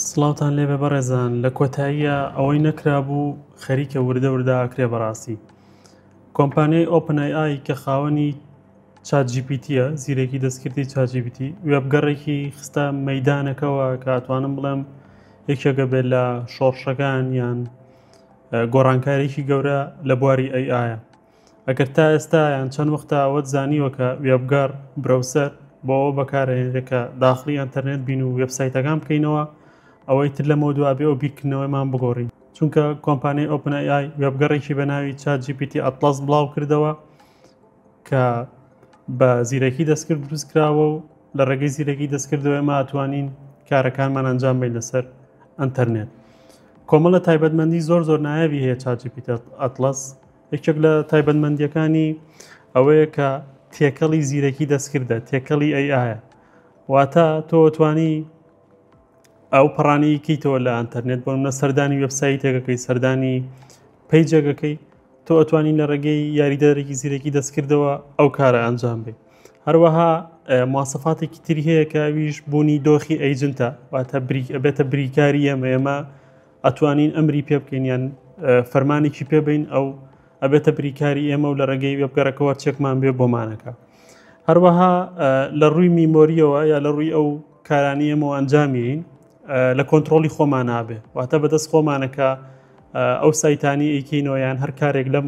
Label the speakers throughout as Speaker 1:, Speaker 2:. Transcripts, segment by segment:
Speaker 1: سڵاوتان لێبێ بەڕێزان لە کۆتاییە ئەوەی نەکرابوو خەریکە وردە وردە ئاکرێ بەڕاستی کۆمپانیای ئۆپن ئای ئای کە خاوەنی چات جیپیتیە زیرەکی دەستکردی چاجیبیتی وێبگەڕێکی خستە مەدانەکەەوە کاتوانم بڵێم یەکێکە بێت لە شۆڕشەکان یان گۆڕانکارێکی گەورە لە بواری ئەی ئاە ئەگەر تا ئێستا یان چەند وەختە ئەوەت زانیوە کە وێبگەڕ، برەوسەر، بۆ ئەوە بەکارئەهێنرێت کە داخڵی ئەنتەرنێت بین و وێبسایتەکان بکەینەوە، ئەوەی تر لەمەوە دوا بێ ئەو بیرکردنەوەیەمان بگۆڕین. چونکە کۆمپانیای ئۆپن ئەی ئای وێبگەڕێکی بە ناوی چات جی پی تی ئەتڵەس بڵاو کردەوە کە بە زیرەکی دەستکرد دروست کراوە و لە ڕێگەی زیرەکی دەستکردەوەی ما ئەتوانین کارەکانمان ئەنجام بین لەسەر ئەنتەرنێت. کۆمەڵە تایبەتمەندی زۆر زۆر نایابی هەیە چات جی پی تی ئەتڵەس یەکێک لە تایبەتمەندییەکانی ئەوەیە کە تێکەڵی زیرەکی دەستکردە تێکەڵی ئەی ئاە واتە تۆتوانی ئەو پەڕانی کەیتەوە لە ئەتەرنێت بۆ منە سەردانی وبسایی تێگەکەی سەردانی پیجەگەکەی تۆ ئەتوانین لە ڕێگەی یاریدەرێکی زیرەکی دەستکردەوە ئەو کارە ئەنجام بێ هەروەها مواسەفاتێکی تری هەیە کە ئەویش بوونی دۆخی ئەیجنتە واتە بریک ئەبێتە بریکاری ئەمە ئێمە ئەتوانین ئەمری پێ بکەین یان فەرمانێکی پێبین ئەو ئەبێتە بریکاری ئێمە و لە ڕێگەی وێبگەڕەکەەوە چێکمان بێ بۆمانەکە هەروەها لە ڕووی میمۆریەوە یا لە ڕووی ئەو کارانی ئێمە ئەنجامیین لە کۆنتترۆلی خۆمان نابێ واتە بەدەست خۆمانەکە ئەو سایتانی ئەیکینەوە یان هەر کارێک لەم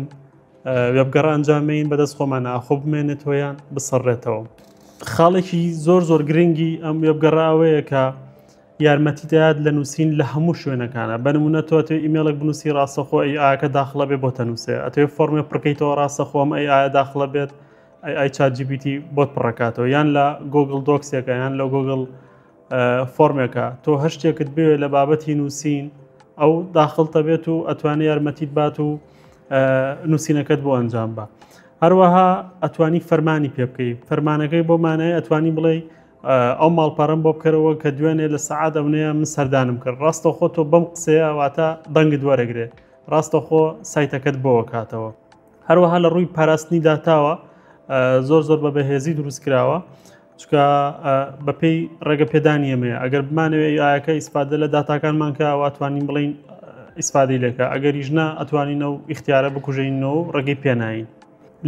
Speaker 1: وێبگەڕ ئەنجامین بەدەست خۆمان ئاخۆ بمێنێت تۆیان بسەڕێتەوە خاڵێکی زۆر زۆر گرنگی ئەم وێبگەڕاوەیە کە یارمەتی دەات لە نووسین لە هەموو شوێنەکانە بە نمونە تۆ ئەتەوێ ئیمێڵێک بنووسی ڕاستەخۆ ئەی ئاکە داخڵە بێ بۆ تەنووسێ ئەتەوێ فۆرمێ پڕکەیتەوە ڕاستەخۆم ئەی ئایا داخڵە بێت ئەی ئای چات جیبیتی بۆت پڕەکاتەوە یان لە گۆگل دۆکسێکە یان لە گۆگل فۆرمێکە تۆ هەر شتێکت بوێ لە بابەتی نووسین ئەو داخڵتە بێت و ئەتوانێت یارمەتیت بات و نووسینەکەت بۆ ئەنجام بە هەروەها ئەتوانی فەرمانی پێ بکەی فەرمانەکەی بۆ مانای ئەتوانی بڵێ ئەو ماڵپەڕم بۆ بکەرەوە کە دوێنێ لە سەعات ئەونەیە من سەردانم کرد ڕاستەخۆ تۆ بەم قسەیە واتە دەنگت وەرەگرێت ڕاستەخۆ سایتەکەت بۆ کاتەوە هەروەها لە ڕووی پاراستنی داتاوە زۆر زۆر بە بەهێزی دروست کراوە چکە بەپێی ڕێگە پێدانی ئەمێ ئەگەر بمانەوێ ئایەکە ئیسپادە لە داتاکانمان کە واتوانین بڵین ئیسپادی لێکە ئەگەریش نا ئەتوانینە و ئیختیارە بکوژینەوە ڕێگەی پێناین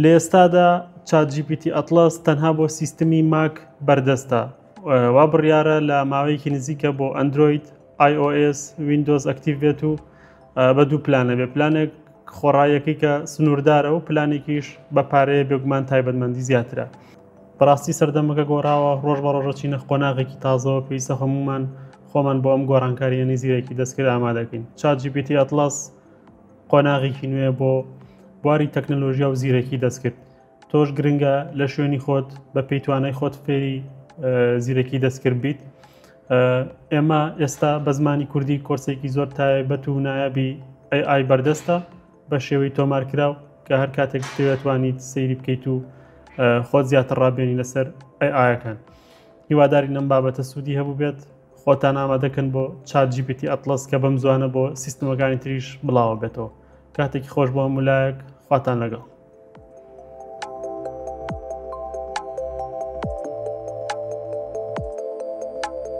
Speaker 1: لە ئێستادا چات جی پی تی ئەتڵەس تەنها بۆ سیستمی ماک بەردەستە وا بڕیارە لە ماوەیەکی نزیکە بۆ ئەندروید iOS وینندۆز ئەکتیڤ بێت و بە دوو پلانە بێ پلانێک خۆڕایەکەی کە سنووردارە و پلانێکیش بە پارەیە بێگومان تایبەتمەندی زیاترە بەڕاستی سەردەمەکە گۆڕاوە ڕۆژ بە ڕۆژە چینە قۆناغێکی تازەوە پێویستە هەمومان خۆمان بۆ ئەم گۆڕانکاریە نزیرەکی دەستکرد ئامادەکەین چاجیبیتی ئەتلس قۆناغێکی نوێ بۆ بواری تەکنەلۆژیا و زیرەکی دەستکرد تۆش گرنگە لە شوێنی خۆت بە پێی توانای خۆت فێری زیرەکی دەستکرد بیت ئێمە ئێستا بە زمانی کوردی کۆرسێکی زۆر تایبەت و نایابی ئای بەردەستە بە شێوەی تۆمارکراو کە هەر کاتێک دەتوانیت سەیری بکەیت و خۆت زیاتر ڕابێنی لەسەر ئای ئاەکان هیواداری نەم بابەتە سوودی هەبوو بێت خۆتان ئامادەکەن بۆ چات جی پی تی ئەتڵەس کە بەم زوانە بۆ سیستمەکانی تریش بڵاوە بێتەوە کاتێکی خۆش بۆ هەموو لایەک خواتان لەگەڵ